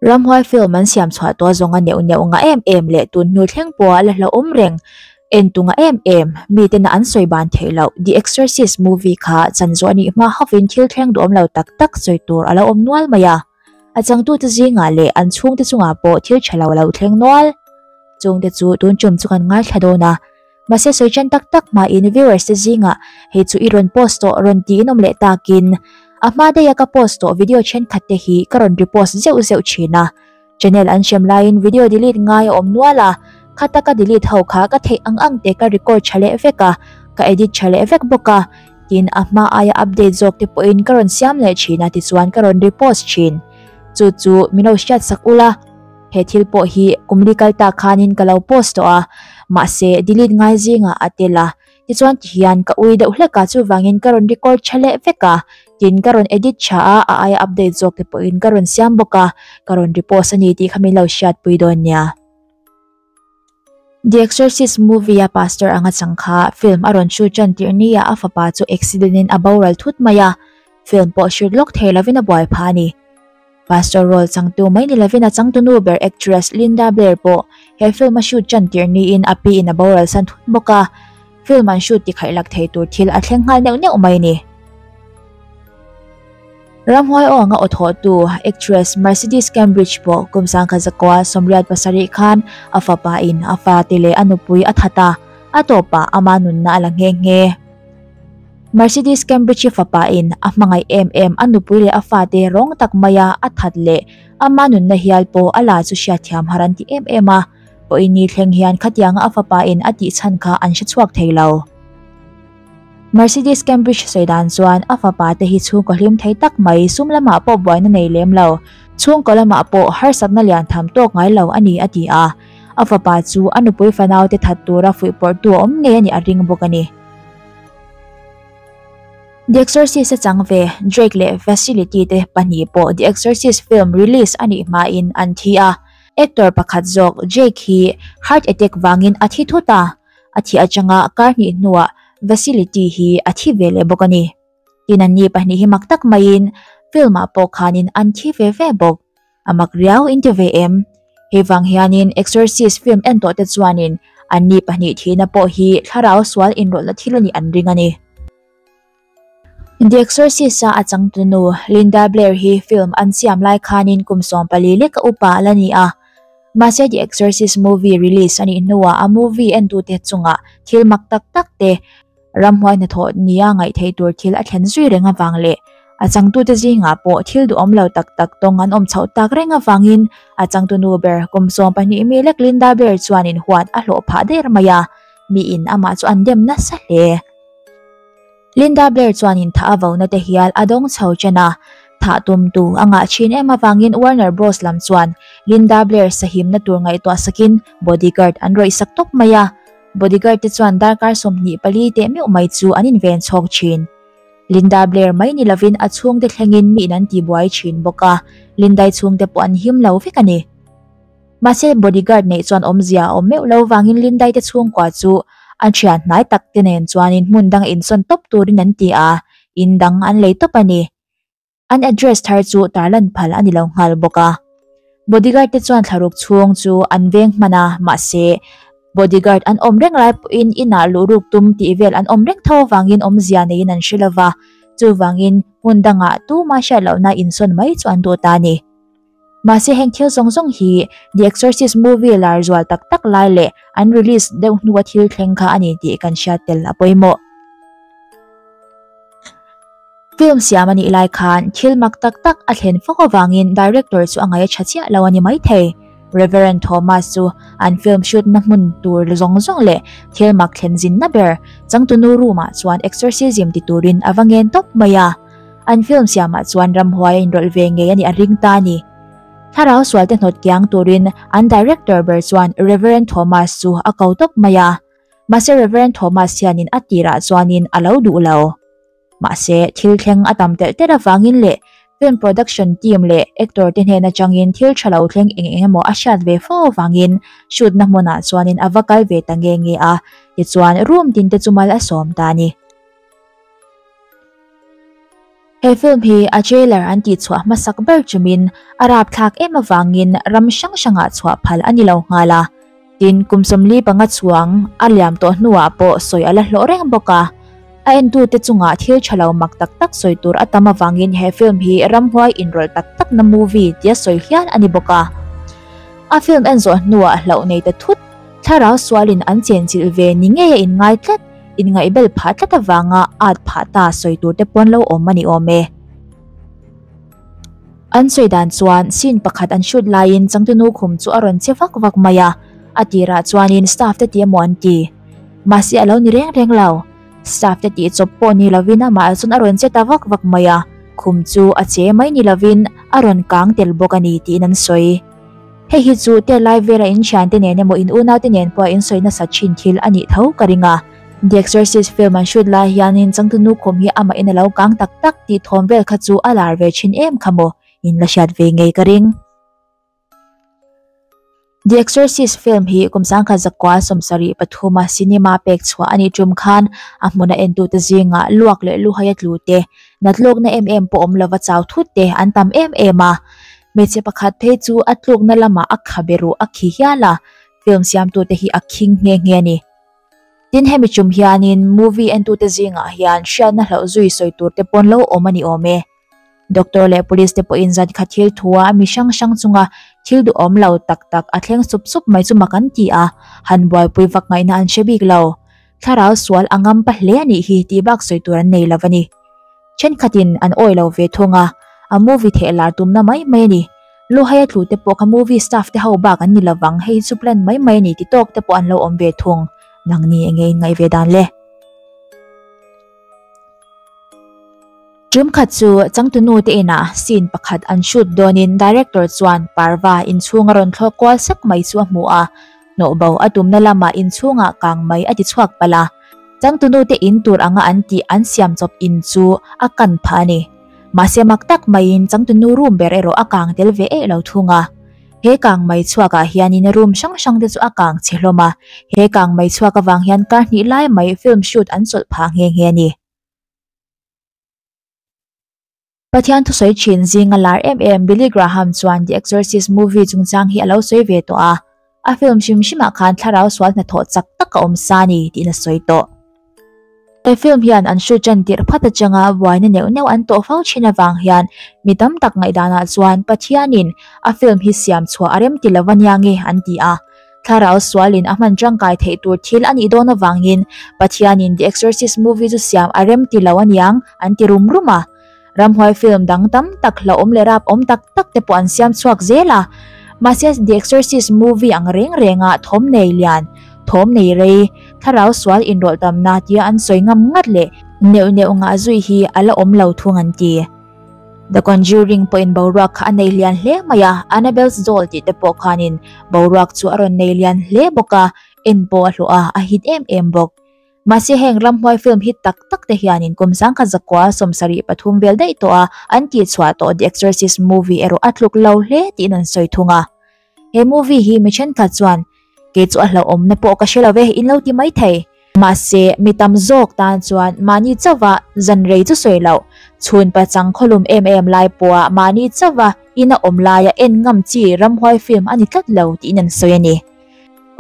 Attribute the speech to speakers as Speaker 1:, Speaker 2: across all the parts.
Speaker 1: Ramhuai film an siam chhuah tawh a zawng a neuh neuh ngah em em leh tun hnu thleng pawh a la hla awm reng en tu ngah em em mi ten ah an sawi ban theih loh the exorcist movie kha chanzuah anih hma ho in thil thleng duhawm lo tak tak sawi tur a la awm nual mai a. A changtute zingah leh an chhungte chungah pawh thil tha lo a lo thleng nual. Chungte chu tun ṭum chu kan ngaithla dawn a. Mahse sawi ṭan tak tak hmain viewers te zingah hei chu i rawn post tawh rawn tiin awm leh takin a hma daia ka post tawh video ṭhenkhat te hi ka rawn repost zeuh zeuh ṭhin a. Channel an hrem laiin video delete ngai a awm nual a, khata ka delete ho kha ka theih ang ang te ka record ṭha leh vek a, ka edit ṭha leh vek bawk a. tin a hma aia update zawk te pawhin ka rawn siam leh thin a tichuan ka rawn repost thin chu chu min lo hriat sak ula he thil pawh hi kumli kal tak khanin ka lo post tawh a mahse delete ngai zinga a tel a tichuan tihian ka ui deuh hlek a chuvangin ka rawn record tha leh vek a tin ka rawn edit tha a a aia update zawk te pawhin ka rawn siam bawk a ka rawn repost a ni tih kha min lo hriat pui dawn nia. The Exorcist movie-a pastor anga chang kha film a rawn shoot ṭan tirh ni a, a fapa chu accident-in a boral thut mai a, film pawh hrilh lawk thei lovin a buai pha a ni. Pastor role changtu mai ni lovin a changtunu ber actress Linda Blair pawh he film a shoot ṭan tirh niin a piin a boral san thut bawk a, Film an shoot ti khaih lak thei tur thil a thleng nghal neuh neuh mai ni. Ramhuai Awng a aw thawh tu actress Mercedes Cambridge pawh kum sangkhat zakua Sawmriat pasarih khan a fapa in a fate leh a nupui a that a, a tawpah ama nunna a la nghe nghe. Mercedes Cambridge-i fapa in a hmangaih em em a nupui leh a fate rawng tak maia a that leh ama nunna hial pawh a la chu hriatthiam harh an ti em em a. Pawh innih thleng hian khatianga a fapa in a tihchhan kha an hre chhuak thei lo. Mercedes Cambridge sawi dan chuan a fapa te hi chhungkaw hlim thei tak mai, sum lamah pawh buaina nei lem lo, chhungkaw lamah pawh harsatna lian tham tawk ngai lo a ni a ti a. A fapa chu a nupui fanau te that tura fuih pawrhtu a awm ngei a nih a ring bawk a ni. The Exorcist a chang ve, Drake leh Facility te pahnih pawh The Exorcist film release a nih hmain an thi a. Actor pakhat zawk Jake hi heart attack vangin a thi thut a. A thi atanga kar hnih hnuah Vasily T hi a thi ve leh bawk a ni. Tin an ni pahnih hi mak tak maiin film-ah pawh khanin an thi ve ve bawk. A mak riau in ti ve em? Hei vang hianin Exorcist film en tawhte chuanin an ni pahnih thihna pawh hi thlarau sual inrawlhna thil anih an ring a ni. The Exorcist-a a changte nu, Linda Blair hi film an siam lai khanin kum sawm pali lek a up a la ni a. Mahse The Exorcist movie release a nih hnuah a movie entute chunga thil mak tak tak te, ram huai hna thawh nia ngaih theih tur thil a thlen zui reng avang leh a changtute zingah pawh thil duhawm lo tak tak tawng an awm chhoh tak reng avangin a changte nu ber kum sawm pahnih mi lek Linda Blair chuan in huat a hlawh phah der mai a. Miin amah chu an dem nasa hle. Linda Blair chuan intha a vona te hial a dawng chho chen a. Thah tum tu a ngah thin em avangin Warner Bros lam chuan Linda Blair sahimna tur ngaihtuah sakin bodyguard an rawisak tawp mai a. Bodyguard te chuan darkar sawmhnih pali teh meuh mai chu an inven chhawk thin. Linda Blair mai ni lovin a chhungte thlengin miin an tibuai thin bawk a, Linda-i chhungte pawh an him lo vek a ni. Mahse, bodyguard neih chuan awmzia a awm meuh lo vangin Lindaite chhungkua chu a thian hnai tak te nen chuanin hmun dang a insawn tawp turin an ti a, in dang an lei tawp a ni. An address thar chu tar lan phal a ni lo nghal bawk a. Bodyguard te chuan thlaruk chhung chu an veng hman a, mahse, bodyguard an awm reng lai pawhin inah luhruk tum tih vel an awm reng tho avangin awmzia neiin an hre lo va, chuvangin hmun dangah tuma hriat lohna insawn mai chu an duh ta a ni. Mahse heng thil zawng zawng hi The Exorcist movie lar zual tak tak lai leh an release deuh hnua thil thleng kha a ni tih kan hriat tel a pawimawh. Film siam a nih lai khan thil mak tak tak a thlen fo vangin director chu a ngai a tha chiah lo a ni maithei. Reverend Thomas chu an film shootna hmun tur zawng zawng leh thil mak thlenzinna ber changtunu room-ah chuan exorcism ti turin a va ngen tawp mai a. An film siamah chuan ramhuaia inrawlh ve ngei a nih a ring ta a ni. Thlarau sualte hnawt kiang turin an director ber chuan Reverend Thomas chu a ko tawp mai a, mahse Reverend Thomas hianin a tirah chuanin a lo duh lo. Mahse, thil thleng a tam telh telh avangin leh film production team leh actor te hnen atangin thil tha lo thleng eng eng emaw a hriat ve fo avangin shoot na hmunah chuanin a va kal ve ta nge nge a tichuan room tin te chu mal a sawm ta a ni. He film hi a trailer an tih chhuah hmasak ber chawmin a rapthlak em avangin ram hrang hrangah chhuah phal a ni lo nghal a. Tin, kum sawmli panga chuang a liam tawh hnuah pawh sawi a la hlawh reng bawk a. A entute chungah thil tha lo mak tak tak sawi tur a tam avangin he film hi ramhuai inrawlh tak takna movie tia sawi hial a ni bawk a. A film en zawh hnuah hlauh nei ta thut, thlarau sualin an chenchilh ve ni ngeia in ngai tlat. Inngaihbel phah tlat avanga ât phah ta sawi tur te paw'n lo awm a ni awm e. An sawi dan chuan scene pakhat an shoot laiin Changtunu khum chu a rawn che vak vak mai a. A tirah chuanin staff te tih emaw an ti. Mahse a lo ni reng reng lo. Staff te tih chawp pawh ni lovin amah chuan a rawn che ta vak vak mai a, khum chu a che mai ni lovin a rawn kang tel bawk a ni tiin an sawi. Hei hi chu tel lai vela inthiante nen emaw in unaute nen pawha insawi nasa thin thil a nih tho ka ring a. The Exorcist film an shoot lai hianin changtunu khum hi amahin a lo kang tak tak tih thawm vel kha chu a lar ve thin em kha maw in la hriat ve ngei ka ring. The Exorcist film hi Kumsangkhat zakua sawm sarih pathuma cinema pek chhuah a nih tum khan a hmun a en tute zinga luak leh luhai a tlute, natlawkna em em pawh awm lova chau thutte an tam em em a. Hmeichhe pakhat phei chu a tlukna lamah a kha beruh a khi hial a, film siamtute hi a khing nghe nghe a ni. Tin, hemi ṭum hianin movie entute zingah hian hriatna hlauh zui sawi turte pawn lo awm a ni awm e. Doctor leh police te pawhin zan kha thil thua a mi hrang hrang chunga thil duhawm lo tak tak a thleng sup sup mai chu mak an ti a, han buaipui vak ngaihna an hre bik lo. Thlarau sual a ngam pa hle a nih hi tih bak sawi tur an nei lo a ni. Thenkhatin an awi lo ve thung a, a movie theh lar tum na mai mai a ni. Luhai a tlu te pawh kha movie staff te ho bak an ni lovang, hei hi chu plan mai mai a ni ti tawk te pawh an lo awm ve thung. Nang ni enge in ngaih ve dan le? Ṭum khat chu changtunu te inah scene pakhat an shoot dawnin director chuan parva inchhung a rawn thlawk kual sak mai chu a hmu a. Hnawhbo a tumna lama inchhungah kang mai a ti chhuak palh a. Changtunute in tur anga an tih an siam chawp in chu a kan phah a ni. Mahse mak tak maiin changtunu room ber erawh a kang tel ve eih lo thung a. He kang mai chhuakah hianin room hrang hrangte chu a kang chhe hlawm a. He kang mai chhuak avang hian kar hnih lai mai film shoot an chawlh phah nghe nghe a ni. Pathian thusawi thin zing a lar em em Billy Graham chuan The Exorcist movie chungchang hi a lo sawi ve tawh a, A film hrim hrimah khan thlarau sual hnathawh chak tak a awm sa a ni tiin a sawi tawh. He film hian an shoot ṭan tirh phat atanga buaina neuh neuh an tawh fo thin avang hian mi tam tak ngaihdanah chuan Pathianin a film hi siam chhuah a rem ti lo ania nge an ti a. thlarau sualin a hman tangkai theih tur thil a nih dawn avangin Pathianin The Exorcist movie chu siam a rem ti lo a niang an ti rum rum a. Ramhuai film dang tam tak hlauhawm leh rapawm tak tak te pawh an siam chhuak zel a. Mahse, The Exorcist movie ang reng rengah thawm nei lian, thawm nei rei, thlarau sual inrawlhdamna tia an sawi ngam ngat leh neuh neuh ngah zui hi a la awm lo thung an ti. Dawn zir ring pawhin boruak kha a nei lian hle mai a, Annabelle's Doll tih te pawh khanin boruak chu a rawn nei lian hle bawk a, en pawh a hlawh a, a hit em em bawk. Mahse heng ramhuai film hit tak tak te hianin kum sangkhat zakua sawmsarih pathum vel daih tawha an tih chhuah tawh The Exorcist Movie erawh a tluk lo hle tiin an sawi thung a. He movie hi mi thenkhat chuan kei chu a hlauh awmna pawh ka hre lo ve, in lo ti mai thei. Mahse, mi tam zawk tan chuan mahni chauha zan rei chu sawi loh, chhunpa chang khawlum em em lai pawha mahni chauha in a awm laia en ngam chi ramhuai film a ni tlat lo tiin an sawi a ni.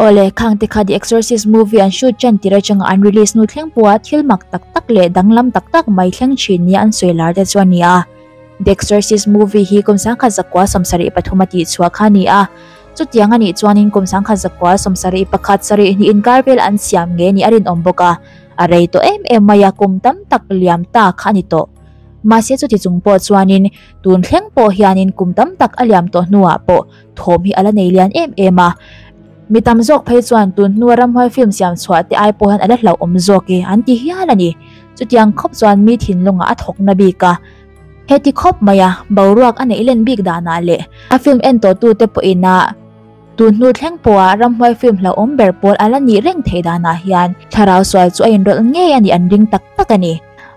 Speaker 1: Awle, khangte kha The Exorcist movie an shoot ṭan tir aṭanga an release nu thleng pawha thil mak tak tak leh danglam tak tak mai thleng ṭhin nia an sawi lar te chu a ni a. The Exorcist movie hi Kawmsangkhat zakua sawmsarih pathum a tihchhuah kha a ni a. Chutiang a nih chuanin Kawmsangkhat zakua sawmsarih pakhat sarih hnih inkar vel an siam ngei nih a rinawm bawk a, a rei tawh em em mai a, kum tam tak liam ta kha a ni tawh. Mahse chuti chung pawh chuanin tun thleng pawh hianin kum tam tak a liam tawh hnuah pawh, thawm hi a la nei lian em em a, mi tam zawk phei chuan tun hnua ramhuai film siam chhuah te ai pawh hian a la hlauh awm zawk e an ti hial a ni. Chutiang khawp chuan mi thinlunga a thawk na bik a, heti khawp mai a boruak a neih len bik danah leh a film en tawh tu te pawh in a tun hnu thleng pawh ah ramhuai film hlauh awm ber pawl a la nih reng thei danah hian thlarau sual chu a in rawlh ngei a ni an ring tak tak a ni.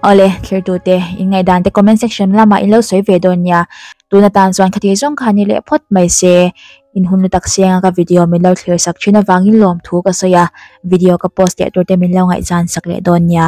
Speaker 1: Awle thlir tute in ngaihdan te comment section lamah in lo sawi ve dawn nia. Tun atan chuan khati zawng kha ni leh phawt mai se, in hun lutak senga ka video min lo thlir sak thin avangin lawmthu ka sawi a, video ka post leh turte min lo ngaihzan sak leh dawn nia.